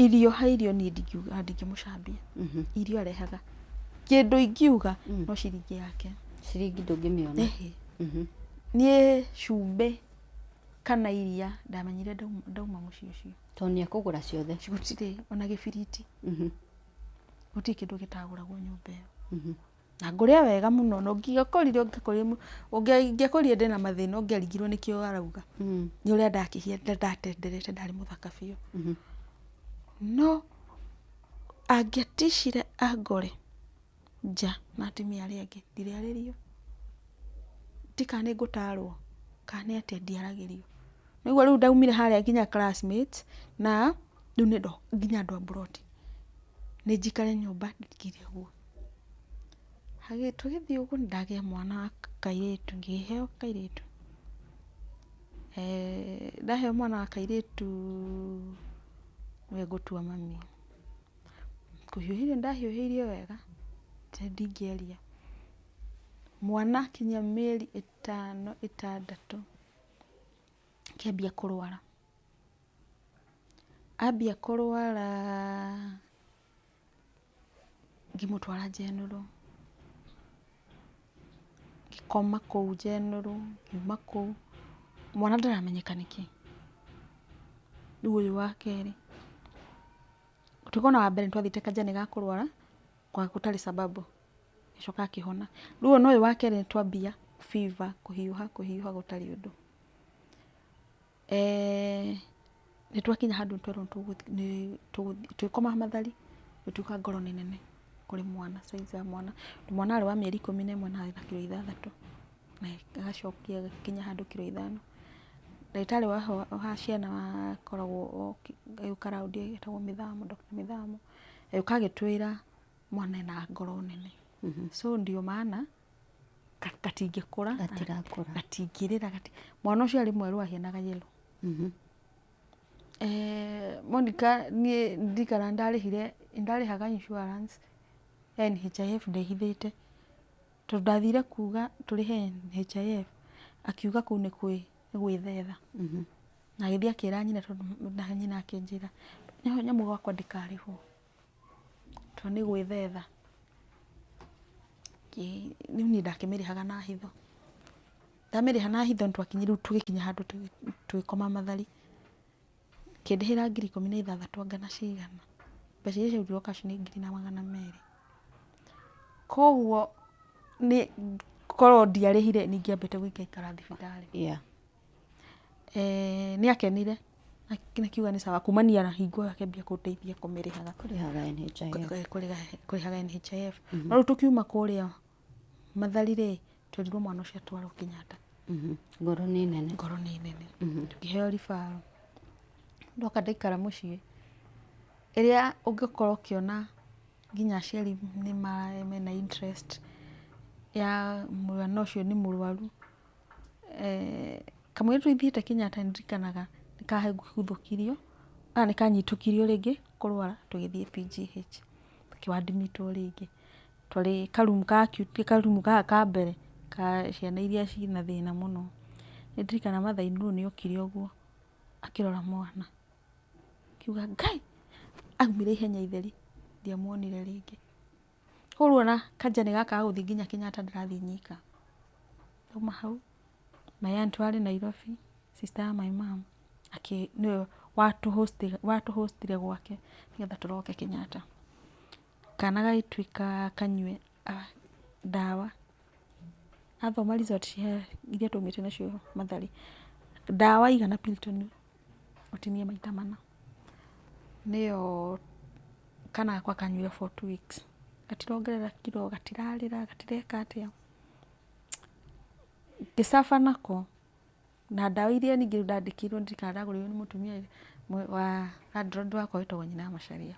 Irio ha irio niĩ ndingiuga ndingĩmũcambia. Irio arehaga. Kĩndũ ingiuga no ciringi yake. Ciringi ndũngĩmĩona. Ĩhĩ. Niĩ cumbĩ kana iria ndamenyire ndauma mũciĩ ũcio. To nĩekũgũra ciothe. Gũtirĩ ona gĩbiriti. Gũtirĩ kĩndũ gĩtagũragwo nyũmba ĩyo. Na ngũrĩa wega mũno na ũngĩakorire ũngĩakorire mũ- ũngĩa- ingĩakorire ndĩna mathĩna ũngĩaringirwo nĩkĩo arauga Mm. nĩ ũrĩa ndakĩhia nda- ndatenderete ndarĩ mũthaka biũ Mhm. no angĩatishire angore nja na atumia arĩa angĩ ndirĩarĩrio ti kana nĩ ngũtarwo kana nĩ atĩa ndiaragĩrio nĩguo rĩu ndaumire harĩa nginya classmate na rĩu nĩ ndo nginya andũ a mburoti nĩ njikare nyũmba ndingĩire ũguo Tũgĩthiĩ ũguo nĩ ndagĩa mwana wa kairĩtu, ngĩheo kairĩtu. Ndaheo mwana wa kairĩtu nĩwe ngũtua mami. Kũhiũhĩrio nĩ ndahiũhĩirio wega atĩ ndingĩaria. Mwana akinyia mĩeri ĩtano ĩtandatũ akĩambia kũrwara. Ambia kũrwara Ngĩmũtwara general, ngĩkoma kũu general, ngiuma kũu, mwana ndaramenyeka nĩkĩ. Rĩu ũyũ wa kerĩ, tũkona wa mbere nĩ twathiĩte kanja nĩ gakũrwara gũtarĩ sababu, agĩcoka akĩhona. Rĩu ona ũyũ wa kerĩ nĩ twambia fever, kũhiũha kũhiũha gũtarĩ ũndũ. Nĩ twakinya handũ twerwo tũgĩkoma mathari gũtuĩka ngoro nĩ nene kũrĩ mwana, size ya mwana. Mwana arĩ wa mĩeri ikũmi na ĩmwe na arĩ na kiro ithathatũ, na agacokia agĩkinya handũ kiro ithano. Ndagĩtarĩ wa ciana akoragwo oka agĩũka round etagwo mĩthamo, Doctor Mĩthamo, agĩũka agĩtwĩra mwana ena ngoro nene. So ndio maana gatingĩkũra gatirakũra gatingĩrĩra gati... mwana ũcio arĩ mwerũ ahianaga yellow mhm. eh, Monica niĩ ndikara ndarĩhire ndarĩhaga insurance ya NHIF ndehithĩte tondũ ndathire kuga tũrĩhe NHIF akiuga kũu nĩ kwĩ gwĩthetha mhm. na agĩthiĩ akĩra nyina tondũ nyina akĩnjĩra nĩho nyamũ gwakwa ndĩkarĩhwo Tondũ nĩ gwĩthetha. Rĩu niĩ ndakĩmĩrĩhaga na hitho. Ndamĩrĩha na hitho nĩ twakinya rĩu tũgĩkinya handũ tũgĩkoma mathari. Ĩkĩndĩhĩra ngiri ikũmi na ithathatũ anga na cigana. Mbeca iria ciarutirwo cash nĩ ngiri na magana merĩ. Kwoguo korwo ndiarĩhire nĩ ingĩambĩte gũikaikara thibitarĩ. Eeh nĩ akenire akiuga nĩ sawa kumania na hingo ĩyo akĩambia kũndeithia kũmĩrĩhaga Kũrĩhaga NHIF. kũrĩhaga NHIF. No rĩu tũkiuma kũrĩa Mathari rĩ, twerirwo mwana ũcio atwarwo Kenyatta. Mhm. Ngoro nĩ nene. Ngoro nĩ nene. Tũkĩheo ribaro. Ndoka ndaikara mũciĩ, ĩrĩa ũngĩkorwo ũkĩona nginya aciari nĩ mena interest ya mwana ũcio nĩ mũrwaru. Kamũira tũthiĩte Kenyatta nĩ ndirikanaga nĩ kaguthũkirio kana nĩ kanyitũkirio rĩngĩ kũrwara tũgĩthiĩ PGH gakĩ admit wo rĩngĩ. Twarĩ ka room ka acute ti ka room gaka ka mbere ka ciana iria ciĩ na thĩna mũno. Nĩ ndirikanaga Mother in law nĩ okire ũguo akĩrora mwana akiuga Ngai! Aumire ihenya itheri ndiamuonire rĩngĩ. Koguo ona kanja nĩ gaka ga gũthiĩ nginya Kenyatta ndĩrathiĩ nyika. Ndauma hau, my aunt warĩ Nairobi, sister ya my mum, akĩ, nĩwe watũ host ire, watũ host ire gwake nĩgetha tũroke Kenyatta. Kana gagĩtuĩka kanyue ndawa, athoma result cia iria twaumĩte nacio Mathari, ndawa aigana Piritonĩ. ũtinie maita mana, nĩyo kana gakwa kanyuire for two weeks, gatirongerera kiro, gatirarĩra, gatireka atĩa, ngĩ suffer nako, na ndawa iria ningĩ rĩu ndandĩkĩirwo ndirikanaga ndagũrĩirwo nĩ mũtumia ĩ, wa landlord wakwa wetagwo nyina wa Macharia,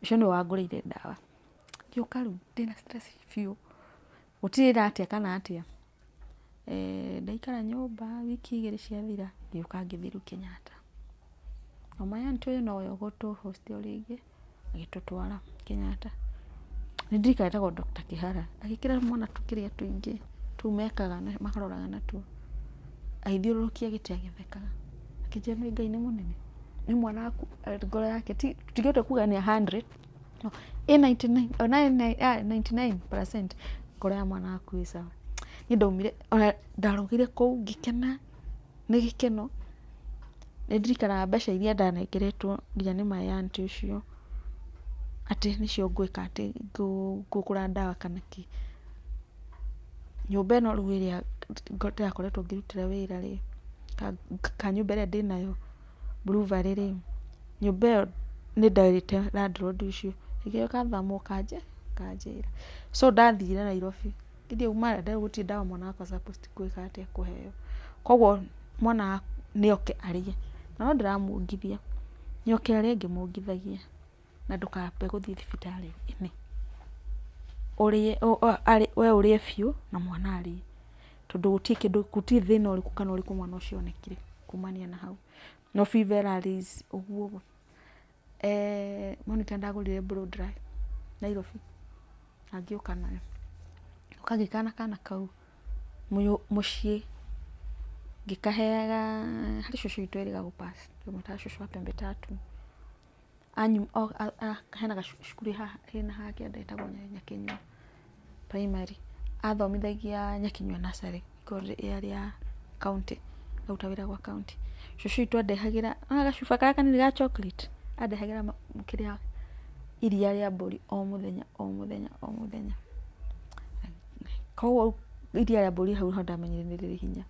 ũcio nĩwe wangũrĩire ndawa, ngĩũka rĩu ndĩna stress biũ, Gũtirĩra atĩa kana atĩa. Eh, ndaikara nyũmba wiki igĩrĩ ciathira ngĩũka ngĩthiĩ rĩu Kenyatta. Na my aunt ũyũ nowe ũgũtũ host o rĩngĩ agĩtũtwara Kenyatta. Nĩ ndirikana etagwo Doctor Kĩhara. Agĩkĩra mwana tũkĩrĩa tũingĩ tũu mekaga na maroraga natuo. Agĩthiũrũrũkia gĩtĩ agĩthekaga. Akĩnjĩra nĩ Ngai nĩ mũnene. Nĩ mwana waku ngoro yake ti tũtingĩhota kuga nĩ a handred. No, ĩ 99 o na ĩ nai- ah, 99% ngoro ya mwana waku ĩ sawa niĩ ndaumire ona ndarũgire kũu ngĩkena nĩ gĩkeno nĩ ndirikanaga mbeca iria ndanengeretwo nginya nĩ my aunt ũcio atĩ nĩcio ngwĩka atĩ ngũ- ngũgũra ndawa kana kĩ nyũmba ĩno rĩu ĩrĩa ndĩrakoretwo ngĩrutĩra wĩra rĩ ka- kanyũmba ĩrĩa ndĩnayo blueberry rĩ, nyũmba ĩyo nĩ nderĩte landlord ũcio ĩgĩũka thamũ ĩkanjĩra. So ndathire Nairobi githĩ auma Eldoret gũtirĩ ndawa mwana wakwa supposed gwĩka atĩa kũheo. Koguo mwana nĩ oke arĩe na no ndĩramũongithia, nĩ oke arĩe ngĩmũongithagia. na ndũkambe gũthiĩ thibitarĩ ĩno, we ũrĩe biũ na mwana arĩe, tondũ gũtirĩ thĩna ũrĩkũ kana ũrĩkũ mwana ũcio onekire kumania na hau, no fever ĩrarĩs ũguo ũguo, eeh monitor nĩndagũrire blow dry Nairobi na ngĩũka nayo, ũkagĩikara na kana kau mũciĩ, ngĩkaheaga, harĩ cũcũ witũ erĩ gagũ pass, tũmĩtaga cũcũ wa pembe tatu. anyu, o, a, a, hena gacu- cukuru haha hena haha kĩanda ĩtagwo Nya- Nyakĩnyua primary, athomithagia Nyakĩnyua nursery korwo rĩ- yarĩ ya county, aruta wĩra gwa county. Cũcũ witũ andehagĩra, nĩwona gacuba karĩa kanini ga chocolate? Andehagĩra ma- kĩrĩa iria rĩa mbũri o mũthenya o mũthenya o mũthenya. Koguo rĩu iria rĩa mbũri hau nĩho ndamenyire nĩ rĩrĩ hinya.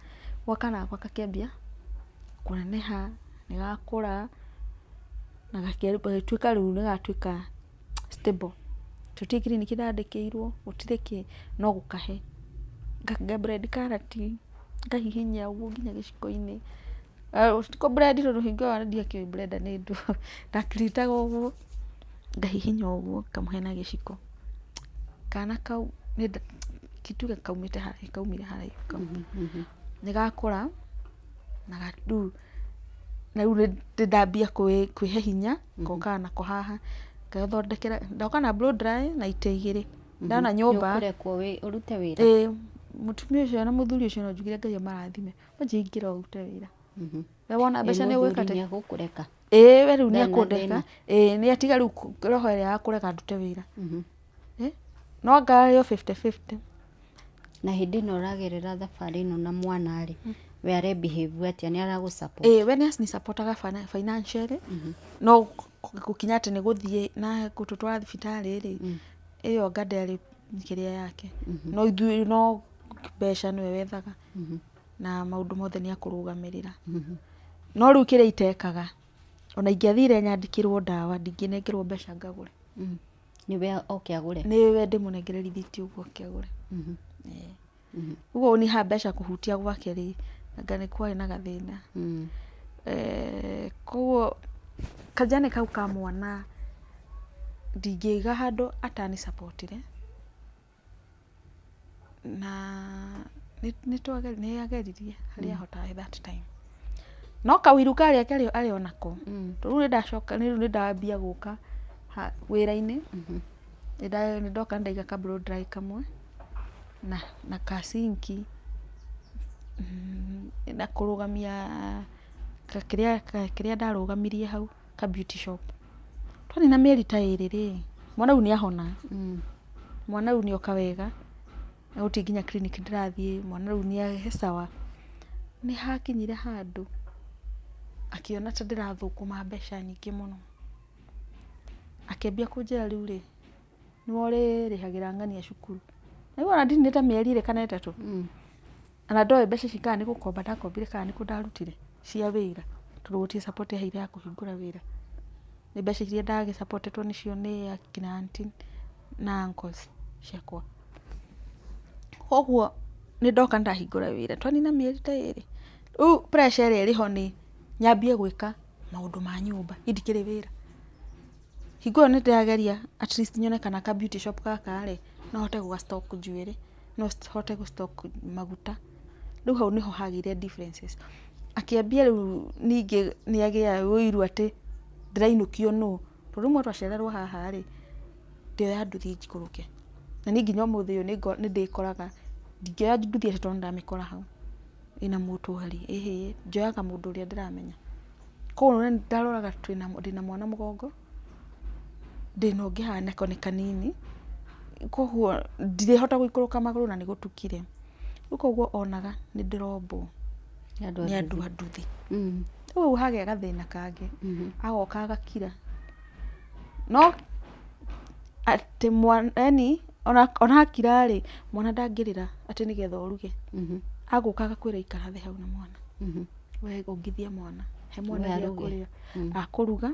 Gwa kana gakwa gakĩambia kũneneha. nĩ gakũra na gagĩtuĩka rĩu nĩ gatuĩka stable. Gũtirĩ kiriniki ndandĩkĩirwo, gũtirĩ kĩ, no gũkahe. Nga blend karati, ngahihinyia ũguo nginya gĩciko-inĩ. Ti kũ blend tondũ hingo ĩyo ndiakĩũĩ blender nĩ ndũ, nda treat aga ũguo, ngahihinya ũguo ngamũhe na gĩciko. Kana kau, reke tuge kaumĩte haraihu, kaumire haraihu kau. Nĩ gakũra na rĩu... Rĩu nĩ ndambia kwĩhe hinya, ngokaga nako haha, ngethondekera, ndoka na blow dry na itĩ igĩrĩ, ndona nyũmba, ĩĩ, mũtumia ũcio na mũthuri ũcio no njugire Ngai amarathime, wanjia ingĩra ũrute wĩra, we wona mbeca nĩ ũgwĩka atĩa? ĩĩ we rĩu nĩ ekũndeka, ĩĩ nĩ atiga rĩu roho ĩrĩa ya kũrega ndute wĩra. Eh, no anga arĩ o 50-50 na hĩndĩ ĩno ũragerera thabarĩ ĩno na mwana rĩ mm. we are behave atĩa nĩ aragũ support eh we nĩ supportaga financially mhm. no gũkinya atĩ nĩ gũthiĩ na gũtũtwara thibitarĩ rĩ mm. ĩyo anga ndarĩ kĩrĩa yake mhm. no ithuĩ no mbeca nĩwe wethaga mhm. na maũndũ mothe nĩ akũrũgamĩrĩra no rĩu kĩrĩa itekaga ona ingĩathire nyandĩkĩrwo ndawa ndingĩnengerwo mbeca ngagũre mm. Nĩwe oke agũre. Nĩwe ndĩmũnengere rithiti ũguo oke agũre. Ũguo niĩ haha mbeca kũhutia gwake rĩ, anga nĩ kwarĩ na gathĩna. Koguo kajane kau ka mwana ndingĩiga handũ atani support re. na nĩ ageririe harĩa ahotaga that time no kaũiru karĩa arĩ o nako rĩu nĩ ndacoka rĩu nĩ ndambia gũka wĩra-inĩ, nĩ ndoka nĩ ndaiga ka blow dry kamwe na ka sink na kũrũgamia kĩrĩa ndarũgamirie hau. ka beauty shop. Twanina mĩeri ta ĩrĩ rĩ, mwana rĩu nĩ ahona. Mwana rĩu nĩ oka wega, na gũtirĩ nginya clinic ndĩrathiĩ, mwana rĩu nĩ e sawa. Nĩ hakinyire handũ akĩona ta ndĩrathũkũma mbeca nyingĩ mũno, akĩambia kũnjĩra rĩu rĩ... nĩwe ũrĩrĩhagĩra ng'ania cukuru rĩu ona ndinĩte mĩeri ĩrĩ kana ĩtatũ mm. na ndoĩ mbeca ici kana nĩ gũkomba ndakombire kana nĩ kũ ndarutire cia wĩra tondũ gũtirĩ support yaheire ya kũhingũra wĩra nĩ mbeca iria ndagĩsapotetwo nĩcio nĩ akina anti na uncles ciakwa koguo nĩ ndoka ndahingũra wĩra twanina mĩeri ta ĩrĩ rĩu pressure ĩrĩa ĩrĩho nĩ nyambie gwĩka maũndũ ma nyũmba indikĩrĩ wĩra Hingo ĩyo nĩ ndĩrageria at least nyone kana ka beauty shop gaka rĩ, no hote gũga stock njuĩrĩ, no hote gũ stock maguta. Rĩu hau nĩho hagĩire differences. Akĩambia rĩu ningĩ nĩ agĩa ũiru atĩ ndĩrainũkio nũ, tondũ rĩmwe twacererwo haha rĩ, ndioya nduthi njikũrũke. Na niĩ nginya ũmũthĩ ũyũ nĩ ndĩkoraga ndingĩoya nduthi atĩ tondũ nĩ ndamĩkora hau ĩna mũtũari, ĩhĩĩ, njoyaga mũndũ ũrĩa ndĩramenya. Koguo nĩ ndaroraga ndĩna mwana mũgongo, ndĩna ũngĩ haha nako nĩ kanini, koguo ndirĩhota gũikũrũka magũrũ na nĩ gũtukire. Rĩu koguo onaga nĩ ndĩrombwo nĩ andũ a nduthi. Rĩu hagĩa gathĩna kangĩ, agoka agakira, no atĩ mwana yaani ona akira rĩ, mwana ndangĩrĩra atĩ nĩgetha oruge, agũka agakwĩra ikara thĩ hau na mwana. We ongithia mwana, he mwana gĩa kũrĩa. Akũruga,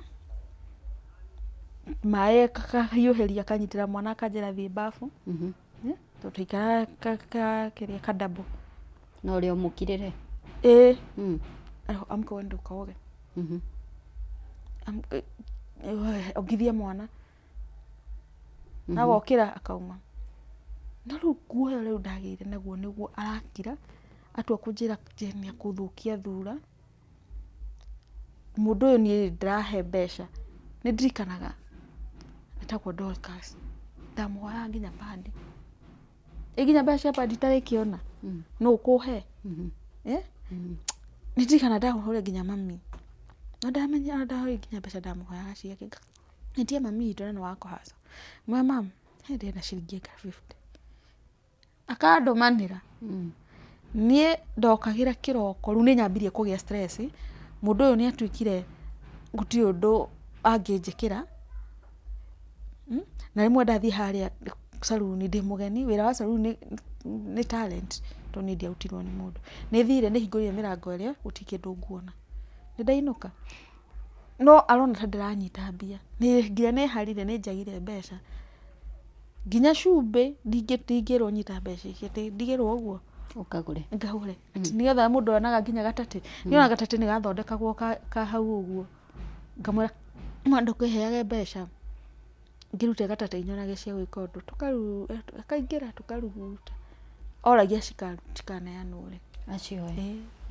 maĩ akahiũhĩria akanyitĩra mwana akanjĩra thiĩ mbabu, tũtikaga ka double. Na ũrĩa ũmũkirĩre? Ĩĩ. Amka wende ũkoge. Ongithia mwana. Agokĩra akauma. No rĩu guoya ũrĩa ndagĩire naguo nĩguo arakira. Atua kũnjĩra nĩ akũthũkia thura, mũndũ ũyũ niĩ ndĩrahe mbeca, nĩ ndirikanaga etagwo Dorcas, ndamũhoyaga nginya pad. Ĩ nginya mbeca cia pad itarĩkĩona? Nũ ũkũhe? Nĩ ndirikanaga ndamũhũrĩire nginya mami, na ndamenya ndarĩ nginya mbeca ndamũhoyaga ciake. Ngetia mami witũ na nĩ wa kũhasa, ngũmwĩra mum he ndĩna ciringi ĩka fifty. Akandũmanĩra, niĩ ndokagĩra kĩroko, rĩu nĩ nyambirie kũgĩa stress, mũndũ ũyũ nĩ atuĩkire gũtirĩ ũndũ angĩnjĩkĩra, na rĩmwe ndathiĩ harĩa caruni ndĩ mũgeni, wĩra wa caruni nĩ talent tondũ niĩ ndiarutirwo nĩ mũndũ. Nĩ thire nĩ hingũrire mĩrango ĩrĩa gũtirĩ kĩndũ nguona. Nĩ ndainũka, no arona ta ndĩranyita mbia, nĩ nginya nĩ harire nĩ njagire mbeca. Nginya cumbĩ ndingĩrwo nyita mbeca icio atĩ ndigĩrwo ũguo. Ũkagũre. Ngagũre. Atĩ nĩ getha mũndũ onaga nginya gatatĩ. Nĩ onaga gatatĩ nĩ gathondekagwo ka ka hau ũguo. Ngamwĩra mama ndũkĩheage mbeca ngĩrute gatatĩ nyonage cia gwĩka ũndũ. Akaingĩra tũkaruguta. Oragia cikaneanwo rĩ. Acio oe.